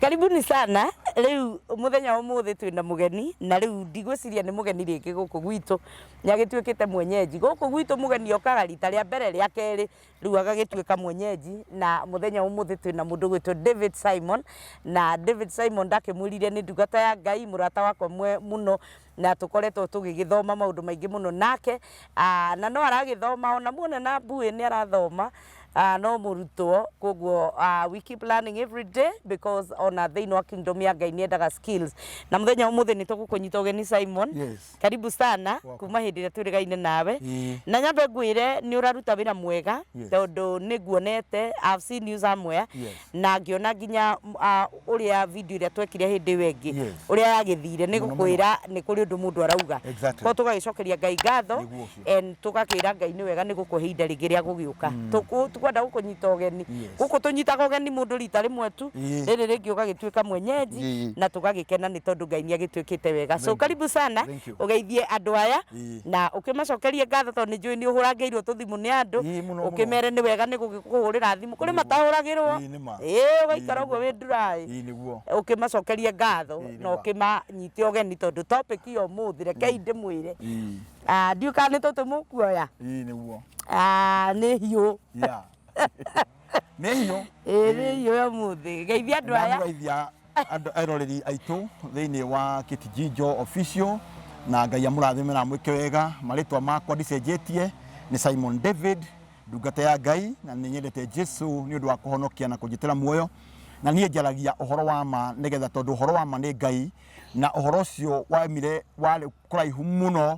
Karibuni sana, rĩu mũthenya wa ũmũthĩ twĩna mũgeni na rĩu ndigwĩciria nĩ mũgeni rĩngĩ gũkũ gwitũ, nĩ agĩtuĩkĩte mwenyenji. Gũkũ gwitũ mũgeni okaga rita rĩa mbere, rĩa kerĩ, rĩu agagĩtuĩka mwenyenji na mũthenya wa ũmũthĩ twĩna mũndũ ũgwĩtwo David Simon, na David Simon ndakĩmwĩrire nĩ ndungata ya Ngai, mũrata wakwa mũno, na tũkoretwo tũgĩgĩthoma maũndũ maingĩ mũno nake ah, na no aragĩthoma ona muone na mbuĩ nĩ arathoma ah, no mũrutwo koguo ah, we keep learning every day because ona thĩinĩ wa kingdom ya ngai nĩ endaga skills na mũthenya ũmũthĩ nĩ tũgũkũnyita ũgeni simon Yes. karibu sana kuma hĩndĩ ĩrĩa twĩrĩgaine nawe Ĩĩ. na nyambe ngwĩre nĩ ũraruta wĩra mwega Yes. tondũ nĩ nguonete I've seen you somewhere Yes. na ngĩona nginya m- a, ũrĩa video ĩrĩa twekire hĩndĩ ĩyo ĩngĩ Yes. ũrĩa yagĩthire nĩ Mũno, gũkwĩra nĩ kũrĩ ũndũ mũndũ arauga Exactly. ko tũgagĩcokeria ngai ngatho Nĩguo ũcio. and tũgakĩra ngai nĩ wega nĩ gũkũhe ihinda rĩngĩ rĩa gũgĩũka Tũkũ- tũkwenda gũkũnyita ũgeni Yes. gũkũ tũnyitaga ũgeni mũndũ rita rĩmwe tu Ĩĩ. rĩrĩ rĩngĩ ũgagĩtuĩka mwenyenji Ĩĩ. na tũgagĩkena nĩ tondũ ngai nĩ agĩtuĩkĩte wega so karibu sana Thank you. ũgeithie andũ aya Ii. na ũkĩmacokerie ngatho tondũ nĩ njũĩ nĩ ũhũrangĩirwo tũthimũ nĩ andũ Ii, mũno, mũno. ũkĩmere nĩ wega nĩ gũkũhũrĩra thimũ kũrĩ matahũragĩrwo Ii, nĩma. ĩĩ ũgaikara Ii, ũguo wĩ nduraĩ Ii, nĩguo. ũkĩmacokerie ngatho Ii, na nĩma. ũkĩmanyite ũgeni tondũ topic ya ũmũthĩ rekei ndĩmwĩre Ii, Ah, ndiũĩ kana nĩ tũtũ mũkuoya ii, nĩguo. Ah, nĩ hiũ Yeah. nĩ hiũ ĩĩ nĩ hiũ ya mũthĩ geithia andũ aya ndamũgeithia andũ eroreri aitũ thĩinĩ wa Kitijinjo official na Ngai amũrathime na amwĩke wega marĩtwa makwa ndicenjetie nĩ Simon David ndungata ya Ngai na nĩ nyendete Jesu nĩ ũndũ wa kũhonokia na kũnjĩtĩra muoyo na niĩ njaragia ũhoro wa ma nĩgetha tondũ ũhoro wa ma nĩ Ngai na ũhoro ũcio waumire warĩ kũraihu mũno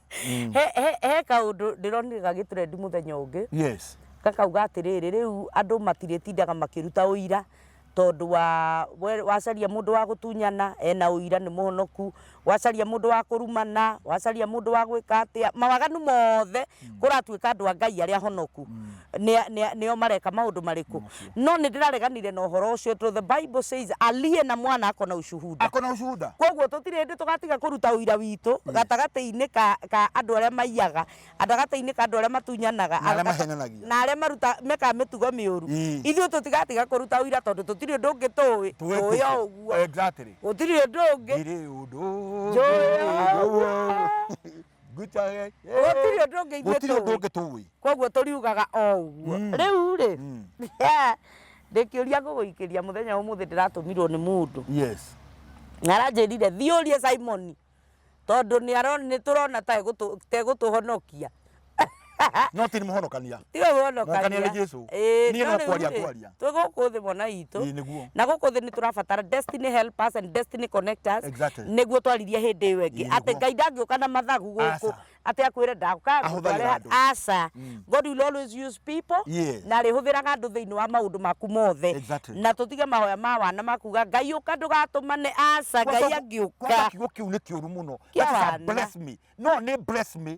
Mm. he, he, he kaundu ndironire gagiturendi muthenya ungi yes gakauga atiriri riu andu matiritindaga makiruta uira tondu wa we- wacaria mundu wa gutunyana ena uira ni muhonoku wacaria mundu wa kurumana wacaria mundu wa gwika atia mawaganu mothe kuratuika andu a ngai aria ahonoku Ni- ni- nio mareka maundu mariku ũcio. No nĩndĩrareganire na ũhoro ũcio to the bible says aliye na mwana ako na ushuhuda. Ako na ushuhuda. Kwoguo tũtirĩ hĩndĩ tũgatiga kũruta ũira witũ mm. gatagatĩ-inĩ ka, ka andũ arĩa maiyaga gatagatĩ-inĩ ka andũ arĩa matunyanaga na arĩa maruta mekaga mĩtugo mĩũru mm. ithuĩ tũtigatiga kũruta ũira tondũ tũtirĩ ũndũ ũngĩ tũĩ tũĩ o ũguo gũtirĩ ũndũ ũngĩ Ngũcage. gũtirĩ ũndũ ũngĩ ithuĩ Gũtirĩ ũndũ tũĩ ũngĩ tũĩ. koguo tũriugaga o ũguo Mm. rĩu rĩ Mm. ndĩkĩũria ngũgũikĩria mũthenya ũmũthĩ ndĩratũmirwo nĩ mũndũ Yes. na aranjĩrire thiĩ ũrie simoni tondũ nĩaro- nĩtũrona ta egũtũ- ta egũtũhonokia no ti nĩ mũhonokania tiwe Mũhonokania nĩ Jesu. Niĩ no kwaria ngwaria. twĩ gũkũ thĩ mwana Ĩĩ, itũ nĩguo. na gũkũ thĩ nĩ tũrabatara destiny helpers and destiny connectors Exactly. nĩguo twaririe hĩndĩ ĩyo ĩngĩ Ĩĩ, atĩ nĩguo. ngai ndangĩũka na mathagu gũkũ Aca. atĩ akwĩre ndakuka Ahũthagĩra andũ. aca god will always use people Yes. na arĩhũthĩraga andũ thĩinĩ wa maũndũ maku mothe Exactly. na tũtige mahoya ma wana makuga ngai ũka ndũgatũmane aca ngai angĩũka kwanza kiugo kiu nĩ kĩũru mũno Kĩa That is a wana. bless me no nĩ bless me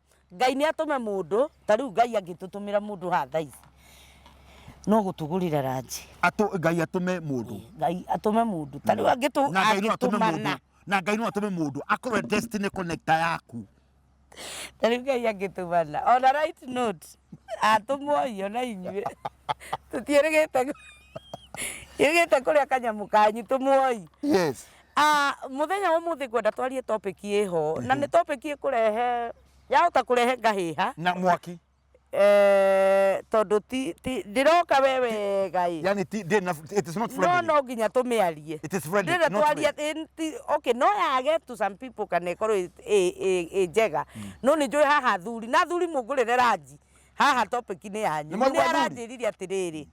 Ngai nĩ atũme mũndũ, ta rĩu Ngai angĩtũtũmĩra mũndũ haha thaa ici, no gũtũgũrĩra ranji. Atũ, Ngai atũme mũndũ. Ngai atũme mũndũ, ta rĩu angĩtũ, Na Ngai no atũme mũndũ. angĩtũmana. Na Ngai no atũme mũndũ. Akorwe destiny connector yaku. Ta rĩu Ngai angĩtũmana. On a right note, atũmwo inyuĩ, ona inyuĩ. tũtiĩrĩgĩte kũ- ĩrĩgĩte kũrĩa kanyamũ kanyu tũmuoi yes Ah, muthenya wa muthi ngwenda twarie topic ĩho na nĩ topic ĩkũrehe yahota kũrehe ngahĩha na mwaki eh, tondũ ti- ti- ndĩroka we wega ĩ yani ti- ndĩ na- it is not no friendly. no nginya tũmĩarie It is friendly, ndĩrenda not twaria friendly. ĩ- ti- okay no yage to some people kana ĩkorwo ĩ- ĩ- ĩ- ĩ njega no nĩ njũĩ haha thuri na thuri mũngũrĩre ranji haha topic nĩ yanyu Nĩ mwaigua nĩ athuri? aranjĩririe atĩrĩrĩ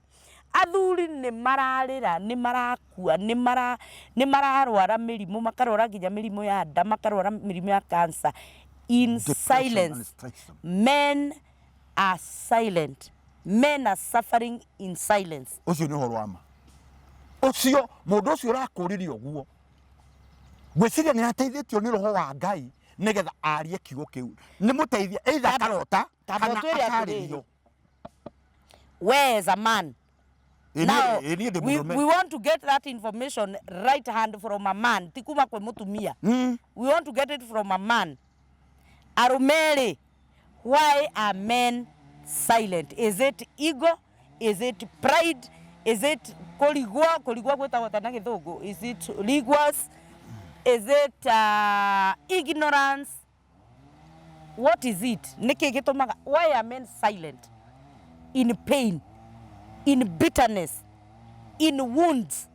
athuri nĩ mararĩra nĩ marakua nĩ mara nĩ mararwara mĩrimũ makarwara nginya mĩrimũ ya nda makarwara mĩrimũ ya cancer in Depression and silence stress. men are silent men are suffering in silence ũcio nĩ ũhoro wa ma ũcio mũndũ ũcio ũrakũrĩria ũguo ngwĩciria nĩ ateithĩtio nĩ roho wa ngai nĩgetha arie kiugo kĩu nĩ mũteithia either akarota Kana Tabo twere atarĩrio. atĩrĩrĩ. Where is a man? Ĩ niĩ- Now, ĩ niĩ ndĩ we, mũrũme. we want to get that information right hand from a man, ti kuma kwĩ mũtumia. Mm. We want to get it from a man. Arumeri, why are men silent? Is it ego? Is it pride? Is it kũrigwo? Kũrigwo gwĩtagwo atĩa na gĩthũngũ? Is it rigors? Is it uh, ignorance? what is it nĩkĩ gĩtũmaga why are men silent in pain in bitterness in wounds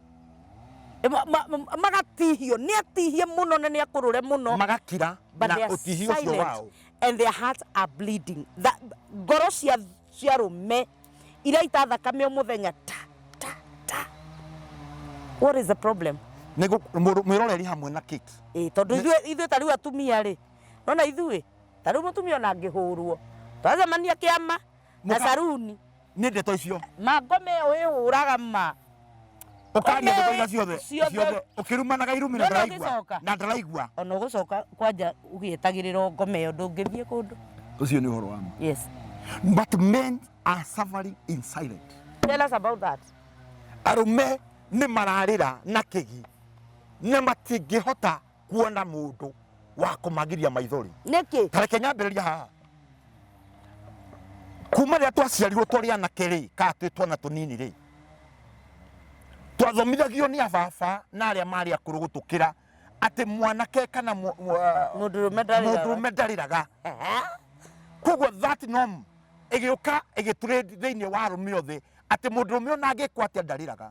Ma- ma- ma- magatihio nĩ atihie mũno na nĩ akũrũre mũno magakira but na they are ũtihio ũcio silent wao and their hearts are bleeding Tha- ngoro cia cia rũme iraita thakame o muthenya ta ta ta what is the problem mwiroreri hamwe na kit eh tondu ithuĩ ithuĩ ta riu atumia ri nona ithuĩ ta riu mutumia ona ngihurwo twacemania kiama na saruni nä ndeto icio mangome ä yo ä hå raga ma ũkaria Ũme- ndũkaiga ciothe ciothe- ciothe ũkĩrumanaga irumi na Ndona ndaraigua ũgĩcoka. na ndaraigua ona ũgũcoka kwanja ũgĩetagĩrĩrwo ngoma ĩyo ndũngĩthiĩ kũndũ ũcio nĩ ũhoro wa ma yes but men are suffering in silent tell us about that arũme nĩ mararĩra na kĩgi na matingĩhota kuona mundu wa kumagiria maithori nĩkĩ ta reke nyambĩrĩria haha kuma rĩrĩa twaciarirwo twarĩ anake rĩ kana twĩ twana tũnini rĩ twathomithagio nĩ ababa na arĩa marĩ akũrũ gũtũkĩra atĩ mwanake kana mu- mu- ah, mũndũrũme ndarĩraga mũndũrũme ndarĩraga Ehe. koguo that norm ĩgĩũka ĩgĩtũrĩ thĩinĩ wa arũme othe atĩ mũndũrũme ona angĩkwo atĩa ndarĩraga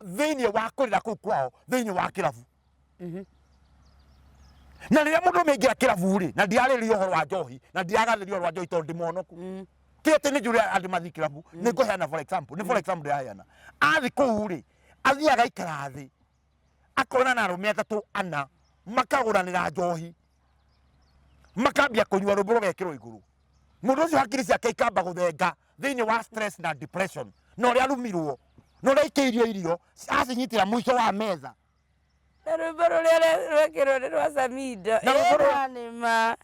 thĩinĩ wa kũrĩra kũu kwao thĩinĩ wa kĩrabu Mhm. na rĩrĩa mũndũ ũmĩingĩra kĩrabu rĩ na ndirarĩrĩria ũhoro wa njohi na ndiragathĩria ũhoro wa njohi tondũ ndĩ mũhonoku Mm. ti atĩ nĩ njũrĩa andũ mathiĩ kĩrabu nĩ ngũheana for example nĩ for example ndĩraheana athiĩ kũu rĩ athiĩ agaikara thĩ akona na arũme atatũ ana makagũranĩra njohi makambia kũnyua rũmbũ rũgekĩrwo igũrũ mũndũ ũcio hakiri ciake ikamba gũthenga thĩinĩ wa stress na depression na ũrĩa arumirwo na ũrĩa ikĩirio irio acinyitĩra mũico wa metha na rwĩmbo rũrĩa rwe- rwekĩrwo nĩ rwa samido Na rwĩmbo rũrĩa- ĩranĩma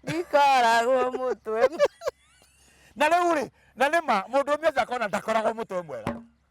ndikoragwo mũtwe na rĩu rĩ na nĩ ma mũndũ ũmwe ũcio akona ndakoragwo mũtwe mwega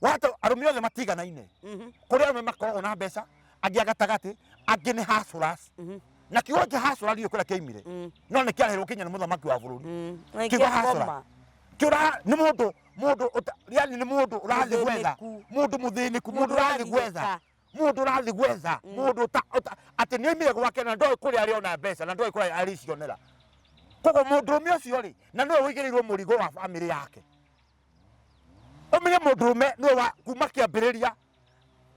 wato arũme othe matiganaine Mhm. kũrĩ arũme makoragwo na mbeca angĩ agatagatĩ angĩ nĩ hasuras Mhm. na kiugo kĩa hasura ndiũĩ kũrĩa kĩaimire Mm. no nĩ kĩarehirwo kinya nĩ mũthamaki wa bũrũri Mm. Na Kiugo hustler. kĩakoma. kĩũra nĩ mũndũ mũndũ ũta- yani nĩ mũndũ ũrathiĩ gwetha Mũthĩnĩku. mũndũ mũthĩnĩku mũndũ Mũndũ ũrathiĩ ũrathiĩ gwetha gwetha. mũndũ ũrathiĩ gwetha mũndũ ũta- ũta- atĩ nĩ oimire gwake na ndoĩ kũrĩa arĩ ona mbeca na ndoĩ kũrĩa arĩcionera koguo mũndũrũme ũcio rĩ na nĩwe ũigĩrĩirwo mũrigo wa bamĩrĩ yake ũmenye mũndũrũme nĩwe wa kuma kĩambĩrĩria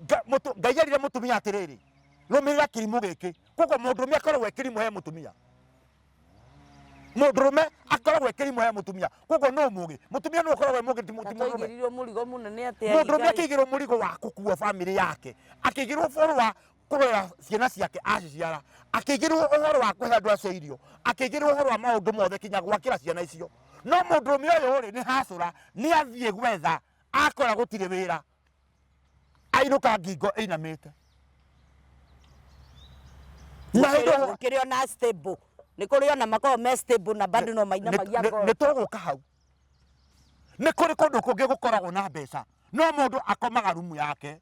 Nga- mũtu- ngai erire mũtumia atĩrĩrĩ rũmĩrĩra kĩrimũ gĩkĩ koguo mũndũrũme akoragwo e kĩrimũ he mũtumia mũndũrũme akoragwo e kĩrimũ he mũtumia koguo no mũgĩ mũtumia nĩ ũkoragwo e mũgĩ ti mũti- mũndũrũme atwaigĩrirwo mũrigo mũnene atĩa mũndũrũme Ngai? akĩigĩrwo mũrigo wa gũkua bamĩrĩ yake akĩigĩrwo bũrũ wa kũrera ciana ciake aciciara, akĩigĩrĩrwo ũhoro wa kũhe andũ acio irio, akĩigĩrĩrwo ũhoro wa maũndũ mothe kinya gwakĩra ciana icio. No mũndũrũme ũyũ rĩ, nĩ hacũra, nĩ athiĩ gwetha, akora gũtirĩ wĩra, ainũka ngingo ĩinamĩte. Na hĩndĩ ĩyo- gukiri ona stable ni kuri ona makao me stable na bado no mainamagia ngoro nä tågå ka hau nä kå rä kå ndå kå ngä gå koragwo na mbeca no må ndå akomaga rumu yake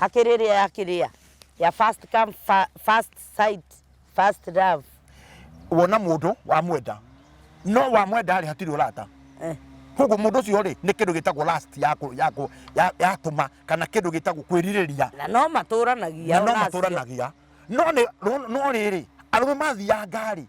Hakĩrĩ ĩrĩa ya kĩrĩa ya first come, first sight, first love. Wona mũndũ wamwenda no wamwenda rĩ hatirĩ ũrata eh. koguo mũndũ ũcio rĩ nĩ kĩndũ gĩtagwo last ya tũma kana kĩndũ gĩtagwo kwĩrirĩria na no matũranagia no matũranagia no rĩrĩ arũme mathianga rĩ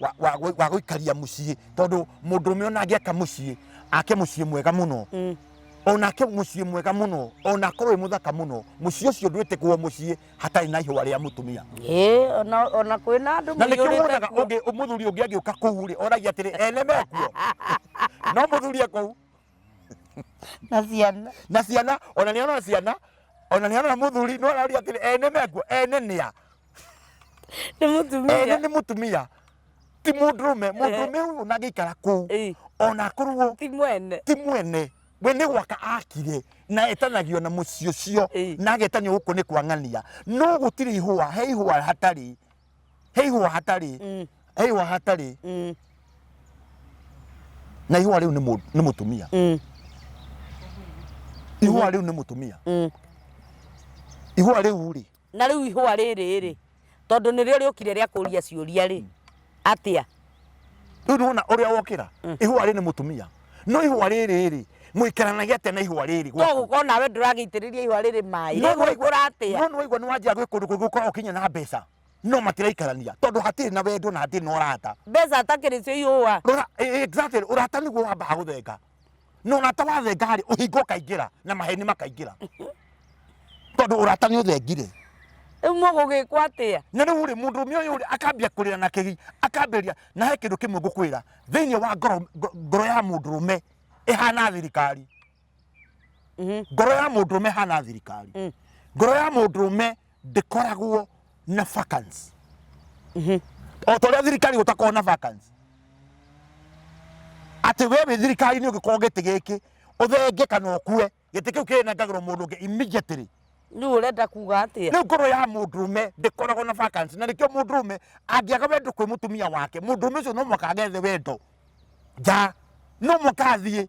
wa- wa gũ- wa gũikaria mũciĩ tondũ mũndũ ũme ona angĩaka mũciĩ ake mũciĩ mwega mũno Mm. onake mũciĩ mwega mũno onake wĩ mũthaka mũno mũciĩ ũcio ndwĩtĩkwo mũciĩ hatarĩ na ihũa rĩa mũtumia Ĩĩ, ona- ona kwĩ na andũ na nĩkĩo maiyũrĩte wonaga kuo. ũngĩ- mũthuri ũngĩ agĩũka kũu rĩ oragia atĩrĩ ene mekuo no mũthuri ekũu na ciana na ciana ona nĩ arona ciana ona nĩ arona mũthuri no araria atĩrĩ ene mekuo ene nĩa nĩ ene mũtumia nĩ mũtumia ti mũndũrũme mũndũrũme ũyũ ona angĩikara kũu Ĩĩ, ona akorwo ti mwene ti mwene we nĩ gwaka akire na etanagio na mũciĩ ũcio Ĩĩ. na agetanio gũkũ nĩ kwa ng'ania no gũtirĩ ihũa he ihũa hatarĩ he ihũa hatarĩ Mm, he ihũa hatarĩ mm, na ihũa rĩu nĩ mũ- nĩ mũtumia mm, ihũa rĩu nĩ mũtumia mm. ihũa rĩu rĩ Na rĩu ihũa rĩrĩ-rĩ, tondũ nĩrĩo rĩũkire rĩa kũũria ciũria-rĩ, atĩa? Rĩu nĩwona ũrĩa wokĩra? Ihũa rĩrĩ nĩ mũtumia. No ihũa rĩrĩ-rĩ, mũikaranagia atĩa na ihũa rĩrĩ No gwaku? gũkorwo nawe ndũragĩitĩrĩria ihũa rĩrĩ maĩ. No nĩwaigua- Rĩgũkũra atĩa? no nĩwaigua nĩwanjia gwĩ kũndũ kũngĩ gũkoragwo kinya na mbeca. No matiraikarania, tondũ hatirĩ na wendo na hatirĩ na ũrata. Mbeca atakĩrĩ cio ihũa. Rora, e- e- exactly, ũrata nĩguo wambaga gũthenga. na ũrata wathenga rĩ ũhinga ũkaingĩra na maheni makaingĩra tondũ ũrata nĩ ũthengire rĩu mũgũgĩkwo atĩa na rĩu rĩ mũndũ ũmwe ũyũ rĩ akambia kũrĩra na kĩgi akambĩria na he kĩndũ kĩmwe ngũkwĩra thĩinĩ wa ngoro ngo- ngoro ya mũndũ ũme ĩhana thirikari Mhm. ngoro ya mũndũ ũme ĩhana thirikari Mm. ngoro ya mũndũ ũme ndĩkoragwo na vacancy o ta ũrĩa thirikari gũtakorwo na vacancy atĩ we wĩ thirikari-inĩ ũngĩkorwo gĩtĩ gĩkĩ ũthenge kana ũkue gĩtĩ kĩu kĩrĩnengagĩrwo mũndũ ũngĩ immediately rä u å renda kuga atä rä u ngoro ya må ndå me ndäkoragwo na vacancy na nä kä o må ndå me angäaga wendo kwä må tumia wake må ndå me å cio no mwaka agethe wendo nja no mwaka athiä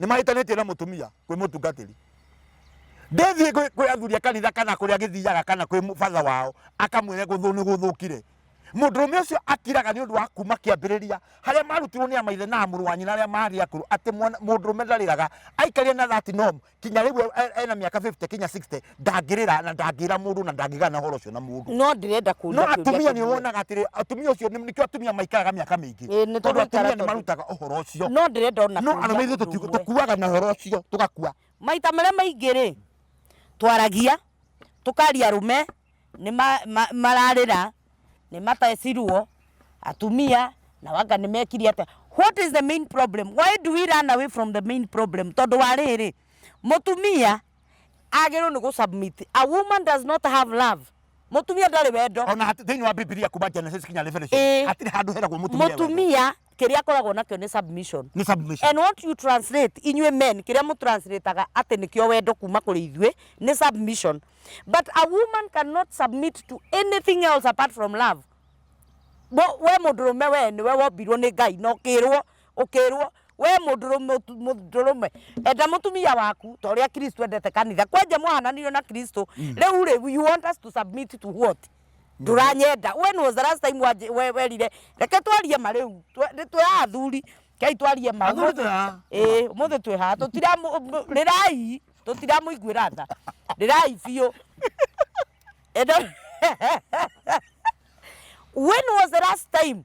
nĩ mahĩtanĩtie na mũtumia kwĩ mũtungatĩri ndĩthiĩ kwĩ- kwĩ athuri a kanitha kana kũrĩa agĩthiaga kana kwĩ mũ- batha wao akamwĩre gũthũ nĩ gũthũkire mũndũrũme ũcio akiraga nĩ ũndũ wa kuma kĩambĩrĩria harĩa marutirwo nĩ amaithe na mũrũ wa nyina arĩa marĩ akũrũ atĩ mwana- mũndũrũme ndarĩraga aikaria na that norm kinya rĩu e- e- ena mĩaka 50 kinya 60 ndangĩrĩra na ndangĩra mũndũ na ndangĩgana horo ũcio na mũndũ no ndĩrenda kũria no atumia nĩ wonaga atĩrĩ atumia ũcio nĩkĩo atumia maikaraga mĩaka mĩingĩ tondũ atumia nĩ marutaga ũhoro ũcio no ndĩrenda ona no arũme ithuĩ tũkuaga na ũhoro ũcio tũgakua maita marĩa maingĩ rĩ twaragia tũkaria arũme nĩ mararĩra nĩ matecirwo atumia na wanga nĩ mekire atĩa what is the main problem why do we run away from the main problem tondũ wa rĩrĩ mũtumia agĩrĩirwo nĩ gũsubmit a woman does not have love mũtumia ndarĩ wendo ona hat- thĩinĩ wa bibilia kuma genesis kinya revelation Ĩĩ. hatirĩ handũ heragwo mũtumia wendo. mũtumia kĩrĩa akoragwo nakĩo nĩ submission nĩ submission and what you translate inyuĩ men kĩrĩa mũtranslataga atĩ nĩkĩo wendo kuma kũrĩ ithuĩ nĩ submission but a woman cannot submit to anything else apart from love Bo- we mũndũrũme we nĩwe wombirwo nĩ ngai na ũkĩrwo ũkĩrwo we mũndũrũme enda mũtumia waku ta ũrĩa kristo endete kanitha kwanja mwahananirio na kristo rĩu rĩ you want us to submit to what ndũranyenda when was the last time wanjĩ- we- werire reke twarie ma rĩu Twe- nĩ twĩha athuri kei twarie ma Athuri twĩha. ĩĩ ũmũthĩ twĩha rĩrai tũtiramũiguĩra tha rĩrai biũ Enda- when was the last time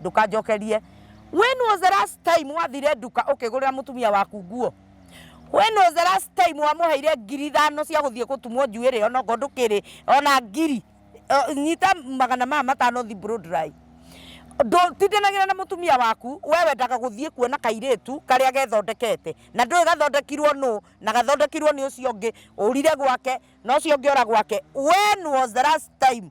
ndukanjokerie when was the last time wathire nduka ukigurira mutumia waku nguo when was the last time wamuheire ngiri ithano cia guthie gutumwo njuiri ona ngo ndukiri ona ngiri Eh, nyita magana maya matano thi blow dry ndutindanagira na mutumia waku we wendaga guthie kuona kairitu karia gethondekete na ndui gathondekirwo nu na gathondekirwo ni ucio ungi urire gwake na ucio ungi ora gwake when was the last time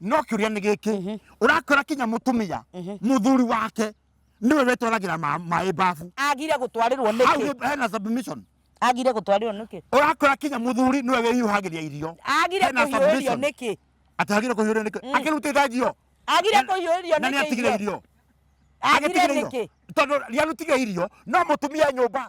no kä å ria nä gä kä årakora kinya må tå mä må thuri wake nä we wetwaragä ra maä mbabu agire gå twarä rwo nä hau kä nĩ- hena submission agire gå twarä rwo nä kä ũrakora kinya mũthuri nĩwe wĩhiũhagĩria irio agire Hena kå hiå rio submission. nä kä atĩ agĩrĩire kũhiũrĩrio nĩkĩ akĩrutĩte njio agire Na- kå hiå rio na nĩ atigire nä irio agire Agĩtigĩra nä irio. kä tondũ rĩarutigire irio no mũtumia nyũmba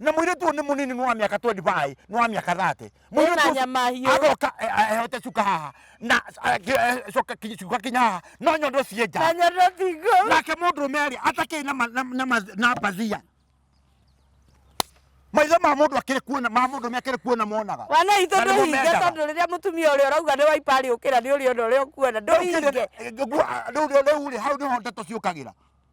na mũirĩtu ũyũ nĩ mũnini nĩ wa mĩaka 25 nĩ wa mĩaka 30 Mũirĩtu Ena ũcio nyama hiũ. agoka eh, eh, ehote cuka haha na eh, ki- eh, coka ki- cuka kinya haha no nyondo ciĩ nja na nyondo tingo nake mũndũ merĩ atakĩrĩ na ma- na- na ma- na mbathia maitho ma mũndũ akĩrĩ kuona ma mũndũ me akĩrĩ kuona monaga wana itå Na nĩmo ndå hinge mendaga. tondå rä rä a må tumia å rä a å rauga nä waiparä å kä ra nä å rä ona å rä a å kuona ndå hinge rä u rä hau nä ho ndeto ciåkagä ra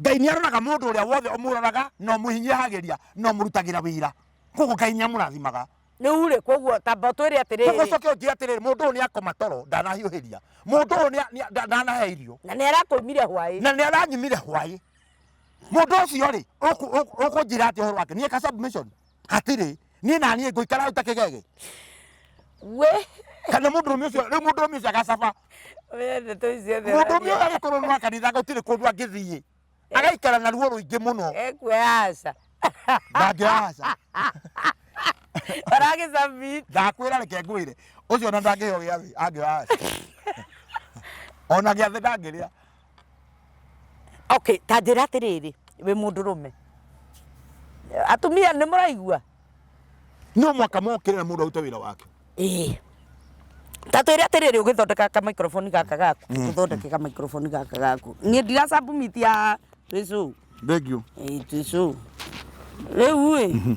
Ngai nĩ aroraga mũndũ ũrĩa wothe ũmũroraga na ũmũhinyĩhagĩria na ũmũrutagĩra wĩra. Koguo Ngai nĩ amũrathimaga. Rĩu rĩ, koguo tamba ũtwĩre atĩrĩrĩ. Koguo ũcoke ũnjĩre atĩrĩrĩ, mũndũ ũyũ nĩ akoma toro ndanahiũhĩria. Mũndũ ũyũ ndanahe irio. Na nĩ arakoimire hwaĩ. Na nĩ aranyimire hwaĩ. Mũndũ ũcio rĩ, ũkũnjĩra atĩa ũhoro wake? Niĩ ka submission? hatirĩ niĩ na niĩ ngũikara ũtakĩgege we kana mũndũ ũmĩ ũcio rĩu mũndũ ũmĩ ũcio agacaba we ndeto icio thĩ mũndũ ũmĩ ũyũ agĩkorwo nĩ wa kanitha gũtirĩ kũndũ angĩthiĩ agaikara na ruo rũingĩ mũno ekuoya aca ndangĩoya aca aragĩcabit ndakwĩra reke ngwĩre ũcio ona ndangĩheo gĩathĩ angĩoya aca ona gĩathĩ ndangĩrĩa Okay, ta njĩra atĩrĩrĩ, wĩ mũndũrũme, atumia nĩ mũraigua? No mũhaka mokĩre na mũndũ arute wĩra wake. Ĩĩ. Ta twĩre atĩrĩrĩ ũgĩthondeka ka microphone gaka gaku, ũthondeke ka microphone gaka gaku. Niĩ ndira submit ya twĩ show. Thank you. Ĩĩ twĩ show. Rĩu ĩ.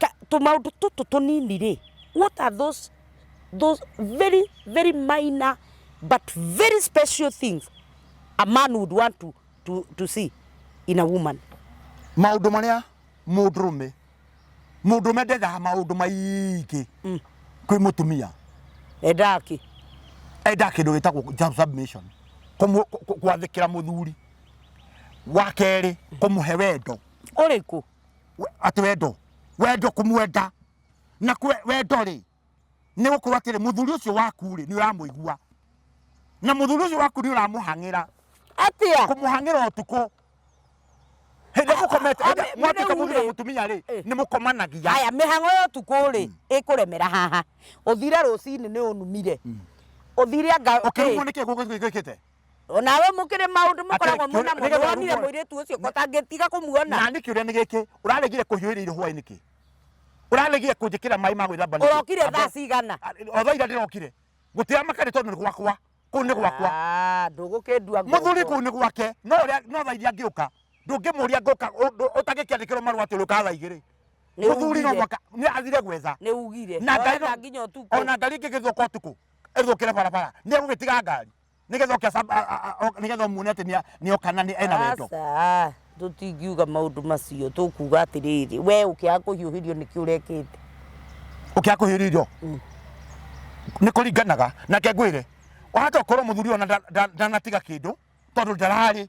ka- tũmaũndũ tũtũ tũnini rĩ, what are those, those very, very minor but very special things a man would want to, to, to see in a woman? maũndũ marĩa mũndũrũme mũndũrũme ndendaga maũndũ maingĩ kwĩ mũtumia Endaga kĩ? enda kĩndũ gĩtagwo job submission kũmũ- kũ- kũ- gwathĩkĩra mũthuri wa kerĩ kũmũhe wendo Ũrĩkũ? we- atĩ wendo wendo kũmwenda na kwe- wendo rĩ nĩ gũkorwo atĩrĩ mũthuri ũcio waku rĩ nĩ ũramũigua na mũthuri ũcio waku nĩ ũramũhang'ĩra atia kũmũhang'ĩra ũtukũ hĩndĩ mũkomete a- hĩndĩ- a- mwatuĩka rĩu mũthuri na rĩ. mũtumia rĩ Eh. nĩ mũkomanagia haya mĩhang'o ya ũtukũ rĩ ĩkũremera haha ũthire rũcinĩ nĩ ũnumire ũthire anga ũkĩrumwo nĩ kĩguũ gĩkĩte O nawe mũkĩrĩ maũndũ mũkoragwo Atĩ- mwĩnamo. nĩgetha Nĩwonire ũguo- mũirĩtu ũcio ko ũtangĩtiga kũmuona. na nĩ kĩũria nĩ gĩkĩ ũraregire kũhiũĩria irio hwaĩ nĩkĩ ũraregire kũnjĩkĩra maĩ ma gwĩthamba nĩkĩ? Ũrokire Amba- thaa cigana? o thaa ira ndĩrokire gũtĩa makari tondũ nĩ gwakwa kũu nĩ gwakwa Ah, ndũgũkĩndua ngombo. mũthuri kũu nĩ gwake no ũrĩa no thaa iria ngĩũka ndũngĩmũria ngũka ũndũ- ũtangĩkĩandĩkĩrwo marũa atĩ ũrĩũka thaa igĩrĩ Nĩ mũthuri no ũgire. mwaka nĩ athire gwetha Nĩ ugire. na ngari Ũrenda nginya ũtukũ. ona ngari ĩngĩgĩthũka ũtukũ ĩthũkĩre barabara nĩ egũgĩtiga ngari nigetha oke acab- a- a- a- o- nigetha umuone ati ni- ni oka na ni ena wendo aca tũtingiuga maũndũ macio tũkuga atĩrĩrĩ we ũkĩaga kũhiũhĩrio nĩkĩ ũrekĩte ukia kuhiririo ni kuringanaga nake ngwire wahata ukorwo muthuri ona nda- nda- ndanatiga kindu tondu ndarari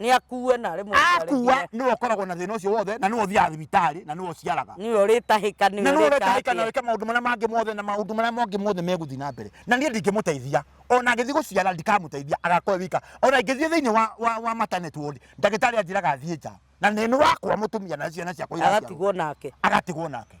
nĩ akue na rĩmwe akua rĩngĩ nĩwe ũkoragwo na thĩna ũcio wothe na nĩwe ũthiaga thibitarĩ na nĩwe ũciaraga nĩwe ũrĩtahĩka na nĩwe nĩwe ũretahĩka na ũrĩtahĩka wĩke maũndũ marĩa mangĩ mothe na maũndũ marĩa mangĩ mothe megũthiĩ na mbere na niĩ ndingĩmũteithia ona ngĩthiĩ gũciara ndikamũteithia agakorwo e wika ona ingĩthiĩ thĩinĩ wa, wa, wa maternity ward ndagĩtarĩ anjĩraga thiĩ nja na nĩ nĩ wakwa mũtumia na ciana ciakwa igaciarwo agatigwo nake agatigwo nake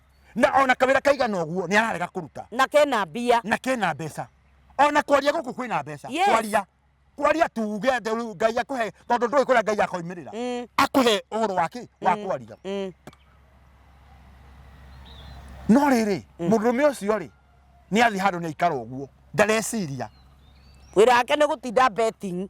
na ona kawira kaigana uguo ni ararega kuruta na kena mbia na kena mbeca ona kwaria guku kwina mbeca Yes. kwaria kwaria tuge atĩ rĩu ngai akuhe tondu ndũĩ kũrĩa ngai akoimirira Mm, akuhe ũhoro wake wa Mm. kwaria mm, no rĩrĩ mũndũrũme ũcio rĩ nĩ athi handũ nĩ aikara ũguo ndareciria wira wake ni gutinda betting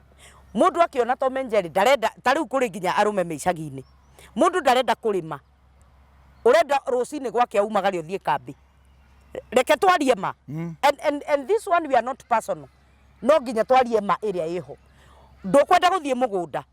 Mũndũ akĩona Tom and Jerry ndarenda, ta rĩu kũrĩ nginya arũme me icagi-inĩ. Mũndũ ndarenda kũrĩma, ũrenda rũcinĩ gwake o umagare ũthiĩ kambĩ. Reke twarie ma. And, and, and this one we are not personal. No nginya twarie ma ĩrĩa ĩho. Ndũkwenda gũthiĩ mũgũnda.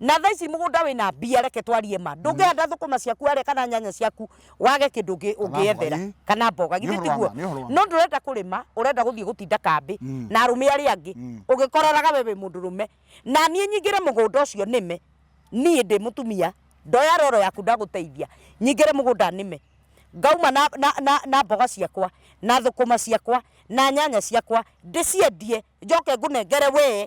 Na thaa ici mũgũnda wĩna mbia reke twarie ma. Ndũngĩhanda thũkũma ciaku harĩa kana nyanya ciaku wage kindu ngi ungiethera ii. kana mboga Nĩ githĩ ũhoro wa tiguo ma, nĩ ũhoro wa ma. no ndurenda kũrĩma ũrenda gũthiĩ gũtinda kambĩ Mm. na arũme arĩa angĩ Mm. ũgĩkororaga we wĩ mũndũrũme na niĩ nyingĩre mũgũnda ũcio nĩme niĩ ndĩ mũtumia ndoya roro yaku ndagũteithia nyingĩre mũgũnda nĩme ngauma na, na, na, na mboga ciakwa na thũkũma ciakwa na nyanya ciakwa ndĩciendie njoke ngũnengere wee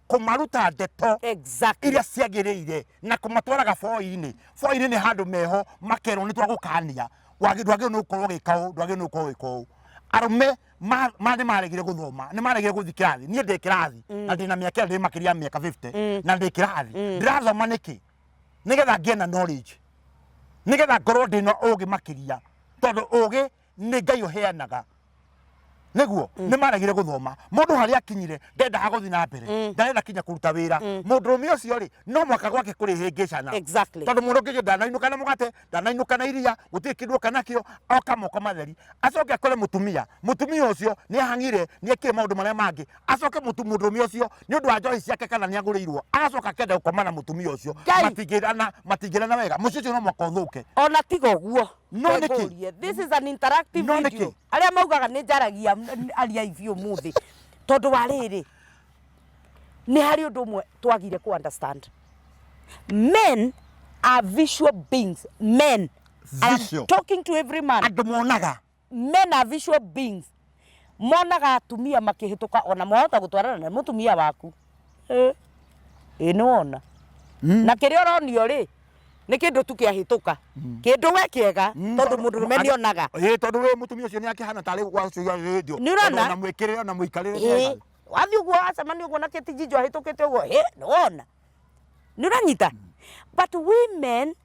kũmaruta ndeto exactly iria ciagĩrĩire na kũmatwara gaboi-inĩ boi-inĩ nĩ handũ meho makerwo nĩ twagũkania Wagĩ- ndwagĩrĩirwo nĩ gũkorwo ũgĩka ũũ ndwagĩrĩirwo nĩ gũkorwo ũgĩka ũũ arũme ma- ma nĩ maregire gũthoma nĩ maregire gũthiĩ kĩrathi niĩ ndĩ kĩrathi na ndĩ na mĩaka ĩyo ndĩ makĩria ya mĩaka 50 na ndĩ kĩrathi ndĩrathoma nĩkĩ nĩgetha ngĩe na knowledge nĩgetha ngorwo ndĩ na ũgĩ makĩria tondũ ũgĩ nĩ ngai ũheanaga nĩguo nĩ maregire gũthoma mũndũ harĩa akinyire ndendaga gũthiĩ na mbere ndarenda kinya kũruta wĩra mũndũrũme ũcio rĩ no mwaka gwake kũrĩ hĩngĩcana Exactly. tondå må ndå ngä ndanainåka na må gate ndanainåka na iria gå tirä kä ndå oka nakio oka moko matheri acoke akore må tumia må tumia å cio nä ahangire nä ekire maå ndå marä a mangä acoke må ndå rå me å cio nä å ndå wa njohi ciake kana nä agå rä irwo agacoka akenda gå koma na må tumia å cio Ngai! matingä rana wega må cio å cio no mwaka å thå ke ona tiga ũguo No nĩkĩ? Ngũrie. this is an interactive No nĩkĩ? video arĩa maugaga nĩ njaragia n- ariai biũ mũthĩ tondũ wa rĩrĩ nĩ harĩ ũndũ ũmwe twagire kũ understand men are visual beings men I am Visual. talking to every man andå monaga men are visual beings monaga atumia makĩhĩtũka ona mwahota gũtwarana na mũtumia waku Eh, ĩ nĩ wona Mm. na kĩrĩa ũronio rĩ nĩ kĩndũ tu kĩahĩtũka kĩndũ we kĩega Mm, tondũ mũndũ rũme nĩ onaga Ĩĩ, tondũ rĩu mũtumia ũcio nĩ akĩhana tarĩ wacuga rĩndio Nĩ ũrona? na mwĩkĩrĩre ona mũikarĩre Ĩĩ, mwega. wathiĩ ũguo wacemania ũguo na kĩtinjinjo ahĩtũkĩte ũguo ĩ nĩ wona nĩ ũranyita but women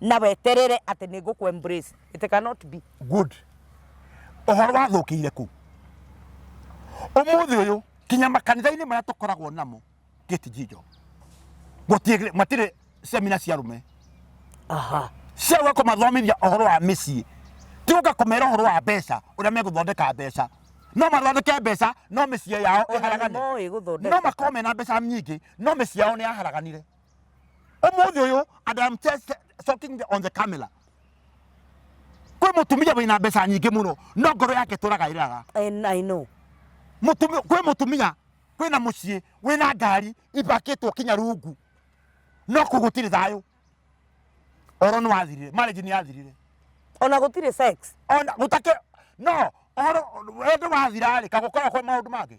na weterere atĩ nĩ ngũkũ embrace it cannot be good ũhoro wathũkĩire kũ ũmũthĩ ũyũ kinya makanitha-inĩ marĩa tũkoragwo namo gĩtijinjo gũtirĩ matirĩ semina cia rũme aha cia gũka kũmathomithia ũhoro wa mĩciĩ ti gũka kũmera ũhoro wa mbeca ũrĩa megũthondeka mbeca no mathondeke mbeca no mĩciĩ yao Ona ĩharagane nĩmoĩ gũthondeka. no makorwo mena mbeca nyingĩ no mĩciĩ yao nĩ yaharaganire umuthi uyu and I'm just talking on the camera kwi mutumia wina mbeca nyingi muno no ngoro yake turaga iraga And I know. mutumia kwi mutumia kwi na mucii wi na ngari ibakitwo kinya rungu no kå gå tirä thayå oro nä wathirire marriage nä yathirire Ona gutire sex. ona gå take no oro wendo wathirarä kagå koragwo kwa maå ndå mangä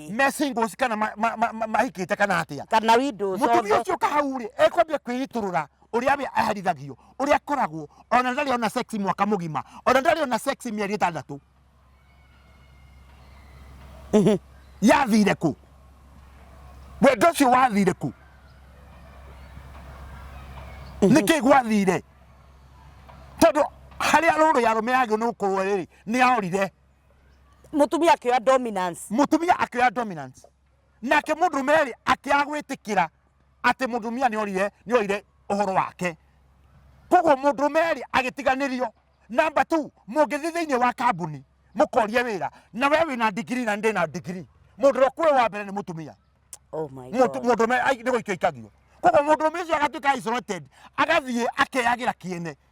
mesingles kana ma- ma- ma- ma- mahikite kana atia kana windows mutumia othe ucio kahau ri ekwambia kwiiturura uria we aherithagio uria akoragwo ona ndari ona sex mwaka mugima ona ndari ona sex mieri itandatu yathire ku wendo ucio wathire ku niki gwathire tondu haria ruru yarumehagio ni gukorwo riri ni ahorire mutumia akioya dominance mutumia akioya dominance nake mundu meri akiaga gwitikira ati mutumia ni orire ni orire uhoro wake koguo mundu meri agitiganirio namba 2 mungithii thiini wa kambuni mukorie wira na we wina ndigiri na ndi na ndigiri mundu ro kwe wa mbere ni mutumia oh my mundu god mundu meri niguikio ikagio koguo mundu meri ucio agatuika isolated agathie akeyagira kiene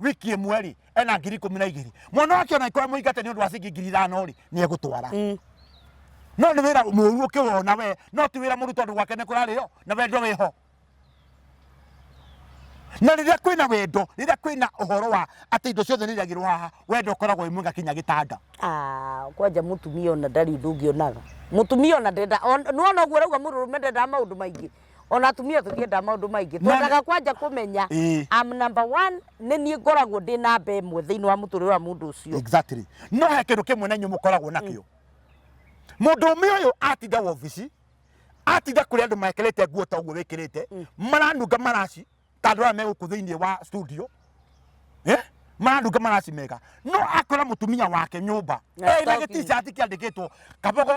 wiki ĩmwe rĩ ena ngiri ikũmi na igĩrĩ mwana wake ona ikorwo mũingate nĩ ũndũ wa cingi ngiri ithano rĩ nĩ egũtwara Mm. no nĩ wĩra mũru ũkĩwona we no ti wĩra mũru tondũ gwake nĩ kũrarĩo na wendo wĩho na rĩrĩa kwĩna wendo rĩrĩa kwĩna ũhoro wa atĩ indo ciothe nĩ iragĩrwo haha wendo ũkoragwo wĩ mwega kinya gĩtanda Ah, kwanja mutumia ona ndari ndungi onaga mutumia ona ndenda on- nĩwona ũguo rauga mũrũrũme ndendaga maũndũ maingĩ ona atumia tũtiendaga maũndũ maingĩ Na- twendaga kwanja kũmenya Ĩĩ. I'm number one nĩ niĩ ngoragwo ndĩ namba ĩmwe thĩinĩ wa mũtũrĩre wa mũndũ ũcio exactly no he kindu kimwe na inyu mukoragwo nakio mundu ume uyu atinda wobici atinda kuri andu mekirite nguo ta uguo wikirite maranunga maraci ta ndora meguku thiini wa studio Eh? maranunga maraci mega no akora mutumia wake nyumba Na ena stoki. gitishati kiandikitwo kabogo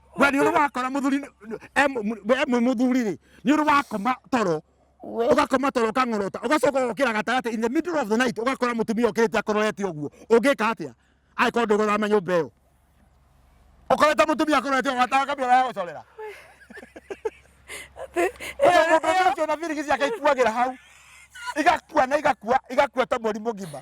we nä å rä wakora må thuri emwe må thuri rä nä å rä wakoma toro We. ũgakoma toro ũkang'orota ũgacoka ũgokĩra gatagatĩ in the middle of the night ũgakora mũtumia ũkĩrĩte akororete ũguo ũngĩka atĩa angĩkorwo ndũgũthama nyũmba ĩyo ũkorete mũtumia akororete ũguo atakambia wa gũcorera mũndũ ũcio na birigisi akaikuagĩra hau igakua na igakua igakua ta mweri mũgima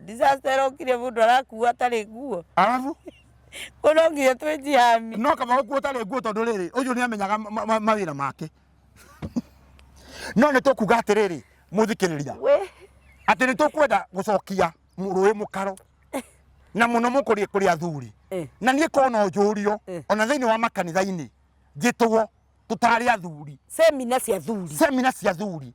Disaster ĩrokire mũndũ arakua atarĩ nguo. Arabu. Ko no nginya twĩjihami. No kaba ũkuo ũtarĩ nguo tondũ rĩrĩ ũyũ nĩ amenyaga mawĩra make. No nĩ tũkuga atĩrĩrĩ mũthikĩrĩria. Atĩ nĩ tũkwenda gũcokia rũĩ mũkaro na muno mũkũrĩ kũrĩ athuri eh. na niĩ kona njũrio eh. ona thĩinĩ wa makanitha-inĩ njĩtwo tũtarĩ athuri semina cia athuri semina cia athuri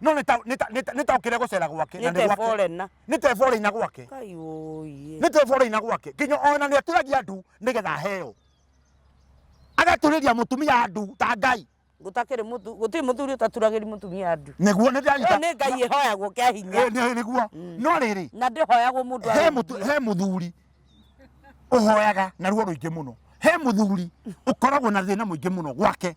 no nĩtaũkĩre gũcera gwake na nĩ gwake. na nĩtebore ina gwake Kai ũiĩ. nĩtebore ina gwake nginya ona nĩatũragia ndu nĩgetha heo agatũrĩria mũtumia ndu ta ngai Gũtakĩrĩ mũtu gũtirĩ mũthuri ũtaturagĩri mũtumia andu. nĩguo Ĩyo nĩndĩranyita nĩ Ngai ĩhoyagwo kĩa hinya. Eh, nĩ- nĩguo no rĩrĩ Na ndĩhoyagwo mũndũ he arĩ mũtu- he mũthuri ũhoyaga na ruo rũingĩ mũno he mũthuri ũkoragwo na thĩna mũingĩ mũno gwake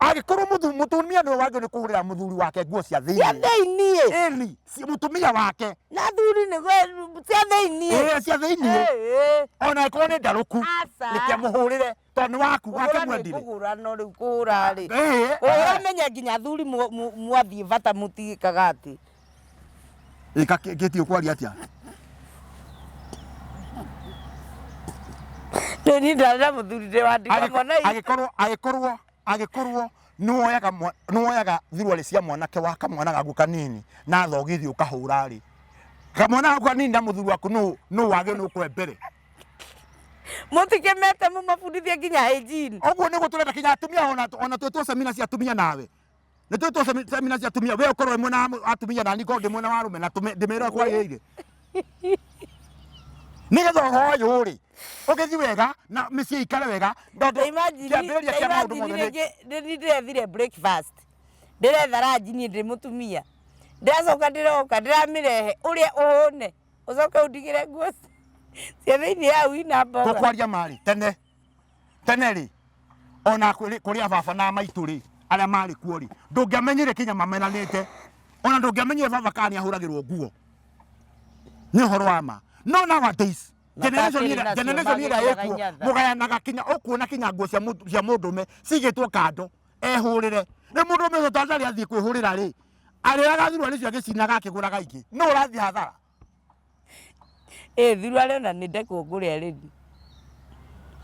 agĩkorwo mũthu- mũtumia nĩwe wagĩrĩirwo nĩ kũgũrĩra mũthuri wake nguo cia thĩinĩ thĩiniĩ Eli, si- mũtumia wake na thuri nĩ cia thĩiniĩ Eh, cia thĩinĩ Ĩĩ. ona ĩkorwo nĩ ndarũku Aca. reke mũhũrĩre tondũ nĩ waku wake Kũhũra nĩ mwendire kũhũra no rĩu kũhũra rĩ Eh, eh. ũramenya nginya athuri mu- mu- mwathiĩ bata mũtigĩkaga atĩ ika kiti ukwaria atia nä ni ndarä muthuri ndä wa ndiga mwana Agĩk- agĩkorwo agĩkorwo agĩkorwo nĩwoyaga mwa- nĩwoyaga thiruarĩ cia mwanake wa kamwana gaku kanini na thogithi ũkahũra rĩ kamwana gaku kanini na mũthuri waku nũ nũ wagĩ nũ kwe mbere må tikä mete må mabundithie nginya hygiene. ũguo nĩguo tũrenda kinya atumia ona ona twĩ twacemina cia atumia nawe nä tå tå semina cia atumia we å korwo wĩ mwena wa mũ- atumia nani ngorwo ndä mwena wa rå me na ndä mä ra kwagä ire nä getha å hoyå rä å gä thi wega na mä ciä ikare wega tondå imagine kĩambĩrĩria kĩa maũndũ mothe nĩ- imagine rĩngĩ nĩ ndĩrethire breakfast ndĩretha ranji niĩ ndĩ mũtumia ndĩracoka ndĩroka ndĩramĩrehe ũrĩa ũhũne ũcoke ũndigĩre nguo cia thĩinĩ ya ui na mboga tåkwaria marä tene tene rĩ ona kũrĩ kũrĩ ababa na maitũ rĩ arĩa marĩ kuo rĩ ndũngĩamenyire kinya mamenanĩte ona ndũngĩamenyire baba kana nĩ ahũragĩrwo nguo nĩ ũhoro wa ma no nowadays Na generation kakĩrĩ ĩrĩa- nacio generation ĩrĩa magĩthiaga ĩkuo inyatha. mũgayanaga kinya ũkuona kinya nguo cia mũtu- cia mũndũme cigĩtwo kando ehũrĩre rĩ mũndũme ũcio tanzania athiĩ kwĩhũrĩra rĩ arĩaga thurwa nĩcio agĩcinaga akĩgũraga ingĩ no ũrathiĩ hathara Ĩĩ thiru arĩ ona nĩ ndekwo ngũre arĩ thiru.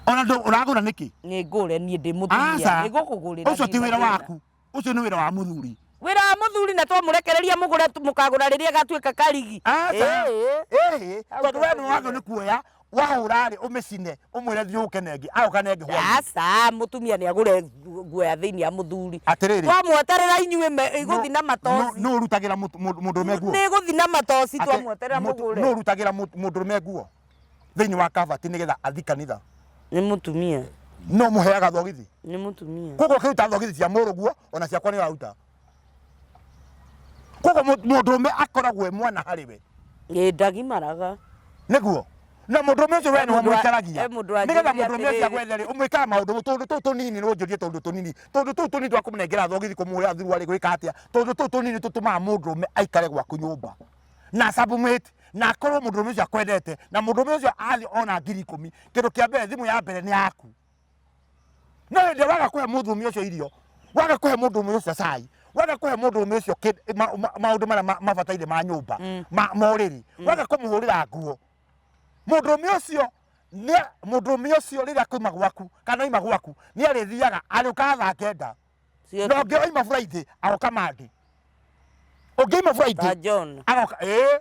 Ona ndũ ũragũra nĩkĩ? Nĩ ngũre niĩ ndĩ mũtumia. Aca. Nĩ gũkũgũrĩra. Ũcio ti wĩra waku. Ũcio nĩ wĩra wa mũthuri. Wĩra wa mũthuri na twamũrekereria mũgũre mũkagũra rĩrĩa gatuĩka karigi. Aca. Ĩĩ. Ĩĩ. Tondũ we nĩ wathwo nĩ kuoya. wahũra rĩ ũmĩcine ũmwĩre thiĩ ũke nengi aũka nengi hwainĩ aca mũtumia nĩ agũre ngu- nguo ya thĩinĩ ya mũthuri atĩrĩrĩ twamweterera inyuĩ me- igũthi na matoci nũ ũrutagĩra mũtu- mũndũ mũndũrũme nguo nĩ igũthi na matoci Atĩ twamweterera mũtu- nũ mũgũre ũrutagĩra mũtu- mũndũrũme nguo thĩinĩ wa kabati nĩgetha athi kanitha nĩ mũtumia no mũheaga thogithi nĩ mũtumia koguo ũkĩruta thogithi cia mũrũguo ona ciakwa nĩ ũraruta koguo mũ- mũndũrũme akoragwo e mwana harĩ we Ĩ, ndagimaraga nĩguo na mũndũrũme ũcio we He nĩ mũndũ wa- wamũikaragia he mũndũ wa nĩgetha njũria mũndũrũme ũcio atĩrĩrĩ. agwethere ũmwĩkaga maũndũ tũndũ tũu tũnini nĩ ũnjũrie tũndũ tũnini tũndũ tũu tũnini twa kũmũnengera thogithi kũmũhũra thurua rĩ gwĩka atĩa tũndũ tũu tũnini tũtũmaga mũndũrũme aikare gwaku nyũmba na submit na akorwo mũndũrũme ũcio akwendete na mũndũrũme ũcio athiĩ ona ngiri ikũmi kĩndũ kĩa mbere thimũ ya mbere nĩ yaku no hĩndĩ ĩrĩa waga kũhe mũndũrũme ũcio irio waga kũhe mũndũrũme ũcio cai waga kũhe mũndũrũme ũcio kĩndũ- ma- ma- maũndũ marĩa ma- mabataire ma nyũmba ma ma ũrĩrĩ waga kũmũhũrĩra nguo mũndũrũme ũcio nĩ- mũndũrũme ũcio rĩrĩa kwaima gwaku kana oima gwaku nĩ arĩthiaga arĩũkaga thaa kenda Sio na ũngĩ oima buraithĩ agoka mandĩ ũngĩ oima buraithĩ ta John agoka ĩĩ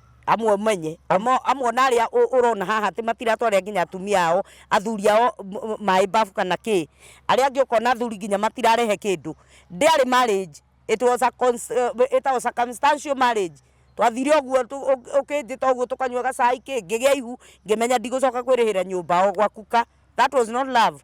amwe ũmenye Amo- amwe na arĩa ũ- ũrona haha atĩ matiratwarĩra nginya atumia ao athuri ao m- m- maĩ mbabu kana kĩ arĩa angĩ ũkona athuri nginya matirarehe kĩndũ ndĩarĩ marriage it was a cons- eh, ĩtagwo circumstantial marriage twathire ũguo tu- ũ- ũkĩnjĩta ũguo tũkanyua gacai kĩ ngĩgĩa ihu ngĩmenya ndigũcoka kwĩrĩhĩra nyũmba o gwakuka that was not love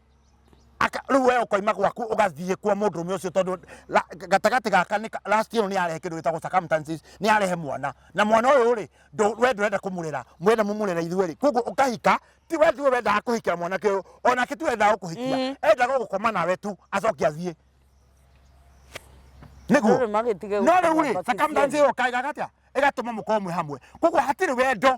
Aka- rĩu we ũkoima gwaku ũgathiĩ kwa mũndũrũme ũcio tondũ la- gatagatĩ gaka nĩ ka- last year nĩ arehe kĩndũ gĩtagwo circumstances nĩ arehe mwana na mwana ũyũ rĩ ndũ- we ndũrenda kũmũrera mwenda mũmũrera ithuĩ rĩ koguo ũkahika ti we tiwe wendaga kũhikĩra mwanake ũyũ onake tiwe wendaga gũkũhikia Mm. endaga gũkoma nawe tu acoke athiĩ nĩguo Rĩrĩ magĩtige no gũkoma rĩu rĩ batithio. circumstances ĩyo kaĩ gagatia ĩgatũma mũkorwo mwĩ hamwe koguo hatirĩ wendo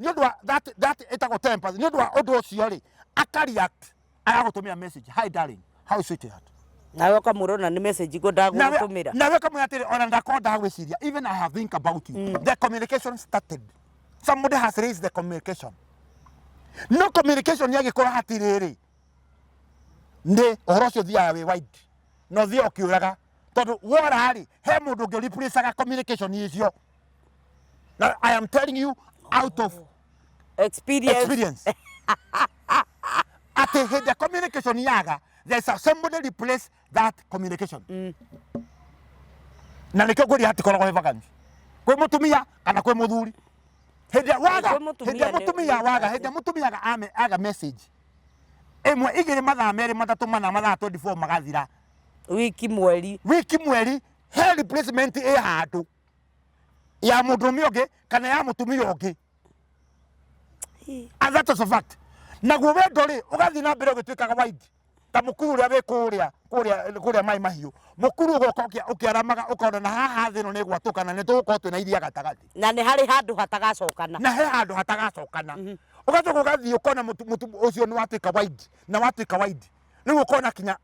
nĩ ũndũ wa that that ĩtagwo temper nĩ ũndũ wa ũndũ ũcio rĩ aka react agagũtũmĩra message hi darling how is it at nawe ũkamũrona nĩ message go ndagũtũmĩra nawe ũkamwĩra atĩrĩ ona ndakorwo ndagwĩciria even i have think about you mm. the communication started somebody has raised the communication no communication yagĩkorwo hatirĩrĩ nĩ ũhoro ũcio thiaga wĩ wide no thiaga ũkĩũraga tondũ wora rĩ he mũndũ ũngĩ replacaga communication icio Na- I am telling you out of Experience. experience. Ati hĩndĩ ĩrĩa communication yaga, there is a somebody replace that communication. Na nĩkĩo ngũria hatikoragwo he vacancy. Kwĩ mũtumia kana kwĩ mũthuri. Hĩndĩ ĩrĩa waga, Kwĩ mũtumia hĩndĩ ĩrĩa nĩ- mũtumia nĩ waga, hĩndĩ ĩrĩa mũtumia aga- ame- aga message. Ĩmwe igĩrĩ mathaa merĩ matatũ mana mathaa 24 magathira. Wiki mweri. Wiki mweri he replacement ĩ handũ. ya mũndũrũme ũngĩ kana ya mũtumia ũngĩ and that is a fact naguo wendo rĩ ũgathiĩ na mbere ũgĩtuĩkaga waindi ta mũkuru ũrĩa wĩ kũrĩa kũrĩa kũrĩa maĩ mahiũ mũkuru ũgoka ũkĩa- ũkĩaramaga ũkona na haha thĩ ĩno nĩ gwatũka na nĩ tũgũkorwo twĩ na iria gatagatĩ na nĩ harĩ handũ hatagacokana na he handå hatagacokana å gacoka å gathiä å kona må tu- må tu- å cio nä watuä ka waindi na watuä ka waindi rä u å kona kinya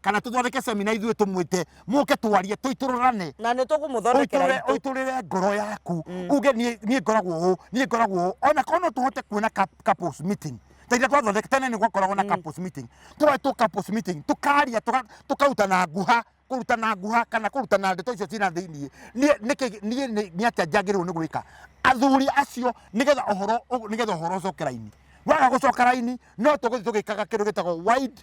kana tũthondeke semina ithuĩ tũmwĩte mũke twarie tũitũrũrane na nä tå kå må thondekera ũitũrĩre itå ũitũrĩre ngoro yaku Mm. uge niĩ niĩ ngoragwo ũũ niĩ ngoragwo ũũ ona korwo no tũhote kuona cup- couples meeting ta iria twathondeka tene nĩ gwakoragwo na couples meeting tũretwo couples meeting tũkaria tũka- tũkarutana nguha kũrutana nguha kana kũrutana ndeto icio ciĩna thĩinĩ niĩ nĩkĩ- niĩ nĩ nĩ atĩa njagĩrĩirwo nĩ gwĩka athuri acio nĩgetha ũhoro ũ- nĩgetha ũhoro ũcoke raini waga gũcoka raini no tũgũthiĩ tũgĩkaga kĩndũ gĩtagwo wide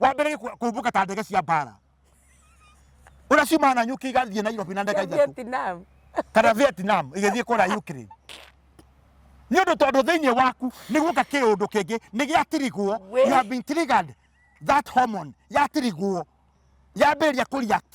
wambĩrĩrie kũ- kũmbũka ta ndege cia mbara ũrĩa ciumaga na nyũki igathiĩ nairobi na ndege ithatũ Vietnam. kana vietnam igĩthiĩ kũrĩa ukraine nĩ ũndũ tondũ thĩinĩ waku nĩ guoka kĩũndũ kĩngĩ nĩ gĩatirigwo We- you have been triggered that hormone yatirigwo yambĩrĩria kũ react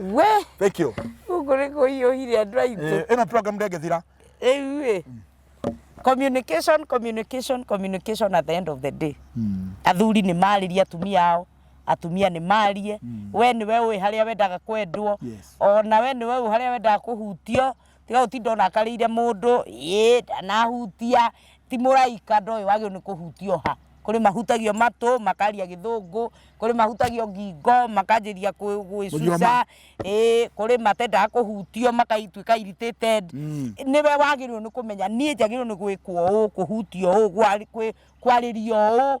we thank you gũkũ nĩ kũhiũhire andũ aitũ Eh, ĩno program ndengethira rĩu ĩ communication communication communication at the end of the day athuri nĩ marĩrie atumia ao atumia nĩ marie we nĩ we ũĩ harĩa wendaga kwendwo Yes. ona we nĩ we ũĩ harĩa wendaga kũhutio tiga utinda unakarire mundu ii ndanahutia ti muraika ndoyo wagio ni kuhutio ha kuri mahutagio matu makaria githungu kuri mahutagio ngingo makanjiria gwicuca ii kuri matendaga kuhutio makaituika irritated Mm. niwe wagirwo ni kumenya nie njagirwo ni gwikwo uu kuhutio uu kwaririo uu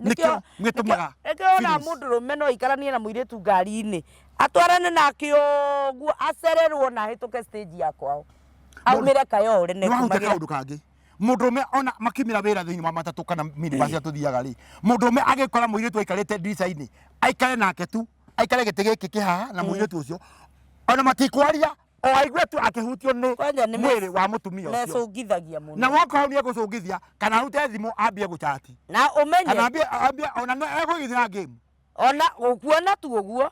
nĩkĩo mwĩtũmaga nĩkĩo ona films. mũndũ rũme no aikaranie na mũirĩtu ngari-inĩ atwarane nake ũguo acererwo na ahĩtũke stage ya kwao aumĩre kayore nĩ wahuta nekumagĩra kaũndũ kangĩ mũndũ ũme ona makiumĩra wĩra thĩinĩ wa matatũ kana minibasi ĩrĩa tũthiaga rĩ mũndũ ũme agĩkora mũirĩtu aikarĩte ndirica-inĩ aikare nake tu aikare gĩtĩ gĩkĩ kĩhaha na mũirĩtu ũcio ona matikwaria o aigue tu akĩhutio nĩ Kwanja nĩ mwĩrĩ wa mũtumia ũcio mecũngithagia mũno na woka hau nĩ egũcũngithia kana arute thimũ ambie gũchati na kana ũmenye ambie ambie ona nĩ egũgithira game ona ũkuona tu ũguo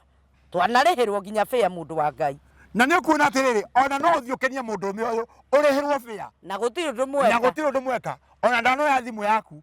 twanarĩhĩrwo nginya bĩa mũndũ wa ngai na nĩ ũkuona atĩrĩrĩ ona no ũthiĩ ũkenie mũndũ ũmwe ũyũ ũrĩhĩrwo bĩa na gũtirĩ ũndũ na mwega gũtirĩ ũndũ mweka ona ndanoya thimũ yaku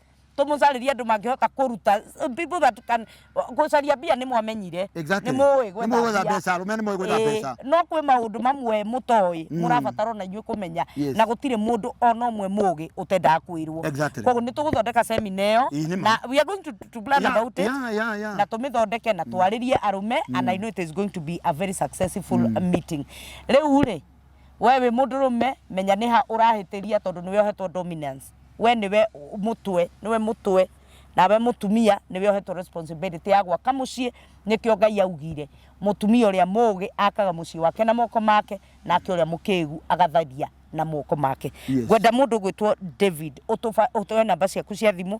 tumucaririe andu mangihota kuruta people that can gucaria mbia ni mwamenyire Exactly. ni muwi Nĩ mũĩ gwetha mbeca, arũme nĩ mũĩ gwetha mbeca. no kwĩ maundu mamwe mutoi murabatara ona inyuĩ kumenya Yes. na gutire mundu ona umwe mugi utendaga kwirwo Exactly. koguo ni tuguthondeka semina iyo Ii, nĩ ma. na we are going to, to plan Yeah, about it yeah, yeah, yeah. na tumithondeke na twaririe arume and i know it is going to be a very successful meeting riu ri we wĩ mũndũrũme menya nĩha ũrahĩtĩria tondũ nĩwe ohetwo dominance we nĩwe mũtwe nĩwe mũtwe nawe mũtumia nĩwe ohetwo responsibility ya gwaka mũciĩ nĩkĩo ngai augire mũtumia ũrĩa mũgĩ akaga mũciĩ wake na moko make nake ũrĩa mũkĩgu agatharia na moko make Yes. ngwenda mũndũ gwĩtwo david ũtũba- ũtũhe namba ciaku cia thimũ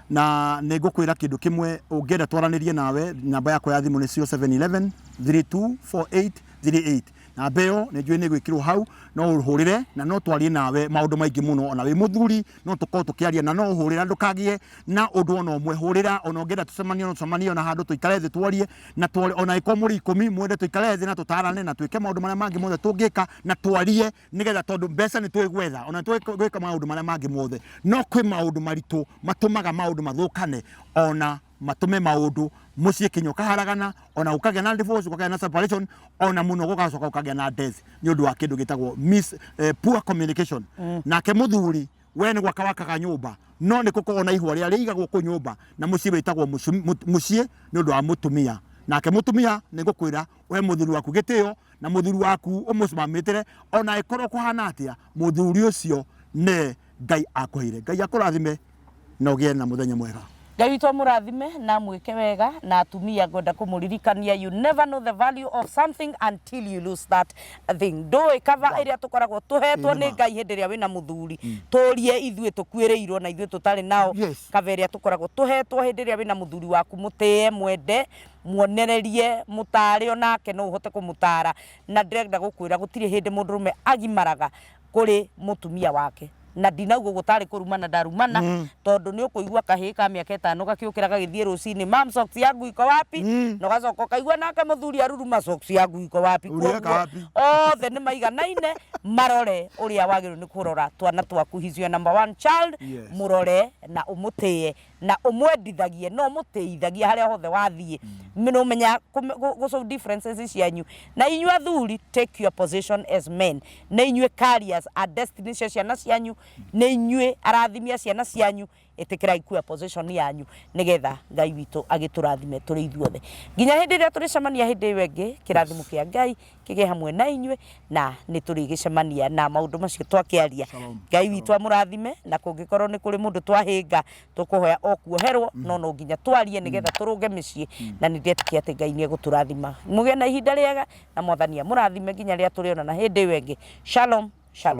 na nĩ ngũkwĩra kĩndũ kĩmwe ũngĩenda twaranĩrie nawe namba yakwa ya thimũ nĩ 0711 324838 namba ĩyo nĩ njũĩ nĩ gwĩkĩrwo hau no ũhũrĩre na no twarie nawe maũndũ maingĩ mũno ona wĩ mũthuri no tũkorwo tũkĩaria na no ũhũrĩre na ndũkagĩe na ũndũ ona ũmwe hũrĩra ona ũngĩenda tũcemanie no tũcemanie ona handũ tũikare thĩ twarie na tware ona ĩkorwo mũrĩ ikũmi mwende tũikare thĩ na tũtarane na twĩke maũndũ marĩa mangĩ mothe tũngĩka na twarie nigetha tondu mbeca ni twi gwetha ona twi gwika maundu maria mangi mothe no kwi maundu maritu matumaga maundu mathukane ona matume maundu mucii kinya ukaharagana ona ukagia na divorce ukagia na separation ona muno gugacoka ukagia na death ni undu wa kindu gitagwo miss eh, poor communication nake muthuri we ni gwaka wakaga nyumba no ni gukorwo na ihua ria riigagwo ku nyumba na mucii witagwo mucii ni undu wa mutumia nake mutumia ni ngukwira we muthuri waku gitio na muthuri waku umucimamitire ona ikorwo kuhana atia muthuri ucio ne ngai akuheire ngai akurathime na ugie na muthenya mwega ngai witũ amũrathime na amwĩke wega na atumia ngwenda kũmũririkania you never know the value of something until you lose that thing ndũĩ kava ĩrĩa tũkoragwo tũhetwo nĩ ngai hĩndĩ ĩrĩa wĩna mũthuri tũrie ithuĩ tũkuĩrĩirwo na ithuĩ tũtarĩ nao Yes. kava ĩrĩa tũkoragwo tũhetwo hĩndĩ ĩrĩa wĩna mũthuri waku mũtĩe mwende muonererie mũtaare o nake no ũhote kũmũtaara na ndĩrenda gũkwĩra gũtirĩ hĩndĩ mũndũrũme agimaraga kũrĩ mũtumia wake na ndinauga ũguo tarĩ kũrumana ndarumana mm. tondũ nĩ ũkũigua kahĩĩ ka mĩaka ĩtano gakĩũkĩra gagĩthiĩ rũcinĩ mam socks yangu iko wapi mm. na ũgacoka ũkaigua nake mũthuri aruruma socks yangu iko wapi Ũrĩa Kuoguo, kapi. othe nĩ maiganaine marore ũrĩa wagĩrĩirwo nĩ kũrora twana twaku his your number one child Yes. mũrore na ũmũtĩe na ũmwendithagie na ũmũtĩithagie harĩa hothe wathiĩ nĩũmenya kũme- gũ- gũ solve differences cianyu na inyuĩ athuri take your position as men na inyuĩ carriers a destiny cia ciana cianyu na inyuĩ arathimia ciana cianyu ĩtĩkĩrai kuya position yanyu nĩgetha ngai witũ agĩtũrathime tũrĩ ithuothe nginya hĩndĩ ĩrĩa tũrĩcemania hĩndĩ ĩyo ĩngĩ kĩrathimo kĩa ngai Kĩgĩe hamwe na inyuĩ na nĩ tũrĩgĩcemania na maũndũ macio twakĩaria. Shalom. Ngai witũ amũrathime na kũngĩkorwo nĩ kũrĩ mũndũ twahĩnga tũkũhoya o kuoherwo no no nginya twarie nĩgetha tũrũnge mĩciĩ na nĩ ndetĩkia atĩ Ngai nĩ egũtũrathima. Mũgĩe na ihinda rĩega na mwathani amũrathime nginya rĩrĩa tũrĩonana hĩndĩ ĩyo ĩngĩ. Shalom, shalom.